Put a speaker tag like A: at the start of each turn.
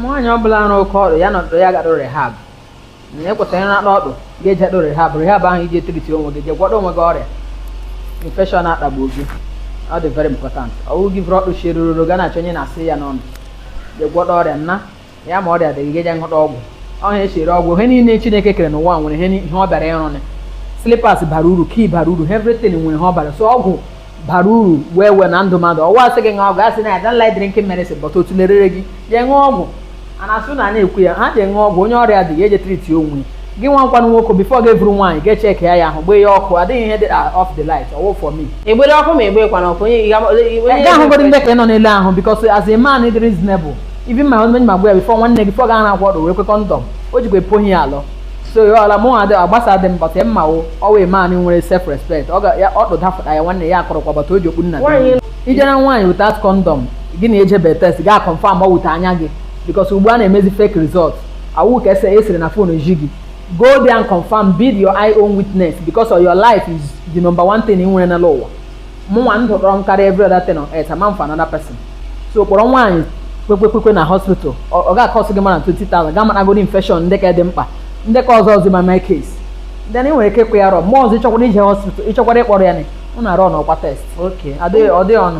A: nwaanyị ọ bụla arụ oke ọrụ ya nọdụ ya gadụ rehab na ekwesịrị ịrakpa ọdụ ga-ejedụ rehab rehab ahụ ije treat onwe gị jee gwọdọ onwe gị ọrịa infection akpagbu gị ọ dị very important ọ wụ gị vuru ọdụ chirururu ga na-achọ onye na-asị ya n'ọnụ jee gwọdọ ọrịa nna ya ma ọrịa dị gị ga-eje nghọta ọgwụ ọha esi ere ọgwụ ihe niile chineke kere n'ụwa nwere ihe ni- ihe ọ bịara ịrụnị slippers bara uru key bara uru everything nwere ihe ọ bara so ọgwụ bara uru wee wee na ndụ mmadụ ọwa asị gị ṅụọ ọgwụ asị na I don't like drinking medicine but otu lerere gị jee ṅụọ ọgwụ a na-asụ na a na-ekwu ya ha jee ṅụọ ọgwụ onye ọrịa dị ya eje treat onwe ya. gị nwa nkwanụ nwoke before gị vuru nwaanyị ga check ya ya ahụ gbee ya ọkụ adịghị ihe dị off the light ọ wụ for me egbere ọkụ ma egbekwana
B: ọkụ onye ị ga- onye- onye- gaa hụgoro ndị
A: ka ị nọ n'elu ahụ because as a man dị reasonable even ma onye ma gwa ya before nwanne before ga na-akwọ ọdụ wee kwe condom o jikwa epohi ya alọ so ya ọla mụ adị agbasa dị mbọt ya mma wo ọwa a man nwere self respect ọ ga ya ọ dụdafụta ya nwanne ya akọrọkwa bata o ji okpu nna Nwaanyị gị ije na nwaanyị without condom gị na ejebe test ga confirm ma with anya gị because ugbu a na-emezi fake result awụ ka ese esiri na phone ji gị go there and confirm be your eye own witness because of your life is the number one thing ị nwere n'ala ụwa mụnwa ndụ dọrọ m karịa every other thing on earth ama m for another person so kpọrọ nwaanyị kwekwekwekwe na hospital ọ ọ ga-akọsị gị mana 20,000 ga maragoro infection ndị ka dị mkpa ndị ka ọzọ ọzọ ma my case then ị nwere ike ịkwụ ya rọ mgbe ọzọ ịchọkwara ije hospital ịchọkwara ịkpọrọ ya na ụ na-arụ ọnụ ọkwa test oke adịghị ọ dịghị ọnụ